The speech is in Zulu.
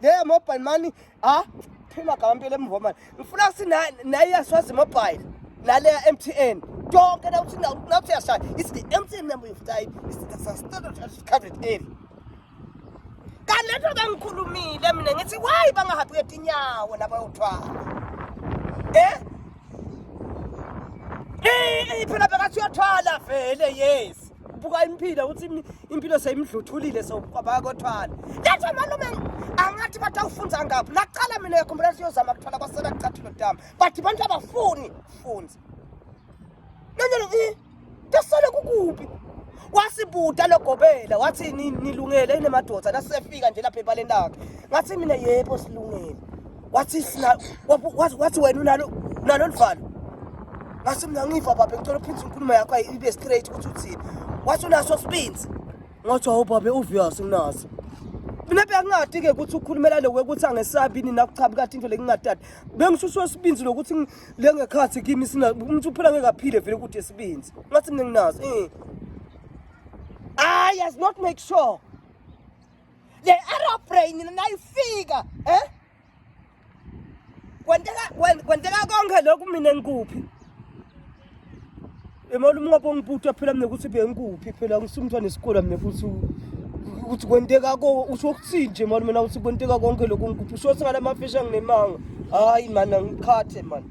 Hey mobile money ah phima gamampela emuva manje ngifuna ukuthi naye yaswazi mobile naleya MTN tonke nawuthi nawuthi yashaya it's the MTN number you've died it's the standard covered area kanento kangikhulumile mina ngithi why bangahambi ngetinyawo nabayothwala eh Eh phela bekathi uyathwala vele yes buka impilo ukuthi impilo seyimdluthulile sokwabaya kothwala letha malume angathi bathi awufunza ngaphi laqala mina yakhumbula siyozama kuthola kwasela kucathilo dama but abantu abafuni funza nanyelo i tasale kukuphi wasibuda logobela wathi nilungele inemadoda nasefika nje lapha ebaleni lakhe ngathi mina yebo silungele wathi sina wathi wathi wena unalo unalo luvalo ngase mina ngiva babe ngicela uphinde inkulumo yakho ibe straight ukuthi uthini wathi unaso sibinzi ngathi hawu babe uvious nginaso mina bengingadi ke ukuthi ukhulumela lokwe ukuthi angesabi ini nakuchabi kade into lekungatati bengisuswa sibinzi lokuthi le ngekhathi kimi sina umuntu uphela ngekaphile vele ukuthi esibinzi ngathi mina nginazo eh ah yes not make sure le aeroplane nayifika eh kwenteka kwenteka konke lokhu mina ngikuphi emali umnqopho ngibutha phela mina ukuthi bengikuphi phela ngisumthwa nesikole mina futhi ukuthi kwenteka ko usho ukuthini nje mali mina ukuthi kwenteka konke lokhu ngikuphi usho ukuthi ngalamafishi anginemanga hayi mani angikhathe mani